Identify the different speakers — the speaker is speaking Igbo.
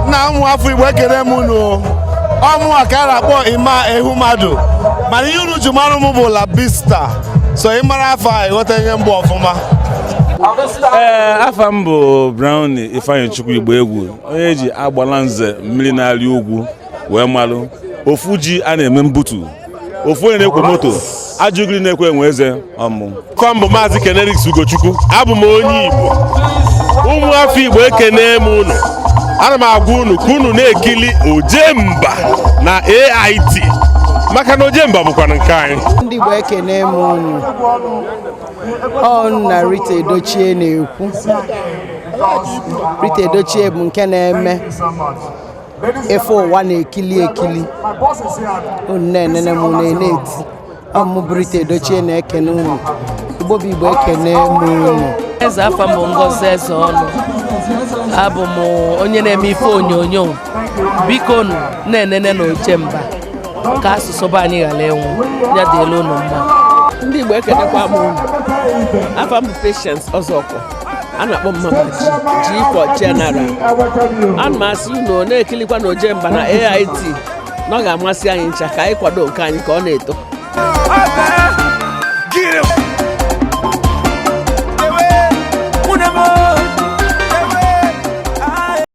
Speaker 1: nna ụmụ afọ igbo ekele m unu ọ mụwa ka a na-akpọ Emma Ehumadu mana ihe unu ji mara m bụ Labista so ị mara afa a ị ghọta onye m bụ ọfụma ee afa m bụ Brown Ifeanyichukwu Igboegwu onye e ji agbalanze mmiri na-arị ugwu wee malụ ofu ji a na-eme mbutu ofu onye na-ekwo moto a jụ gịnị na-ekwe enwe eze ọ mụwa bụ maazị Ken Erics ugochukwu abụ m onye igbo ụmụ afọ igbo ekene m unu ana m agwa unu ka unu na-ekili ojemba na ait maka na ojemba bụkwanụ nke anyị ndị igbo ekene m unu ọnụ na rita edochie na-ekwu rita edochie bụ nke na-eme ife ụwa na-ekili ekili unu na-enene m enene na TV ọ mụ bụ rita edochie na-ekene unu igbo bụ igbo ekene m unu ezi afa m bụ ngozi ezeọnụ abụ m onye na-eme ife onyonyo bikonụ na-enenenụ ojemba ka asụsụ be anyị ghala ịnwụ ya dịlị unu mma ndị igbo ekenekwa m unu afa m bụ patience ọzọkwọ a na-akpọ m mama G for general ana m asị unu na-ekilikwanụ ojemba na AIT na ọ ga-amasị anyị ncha ka anyị kwado nke anyị ka ọ na-eto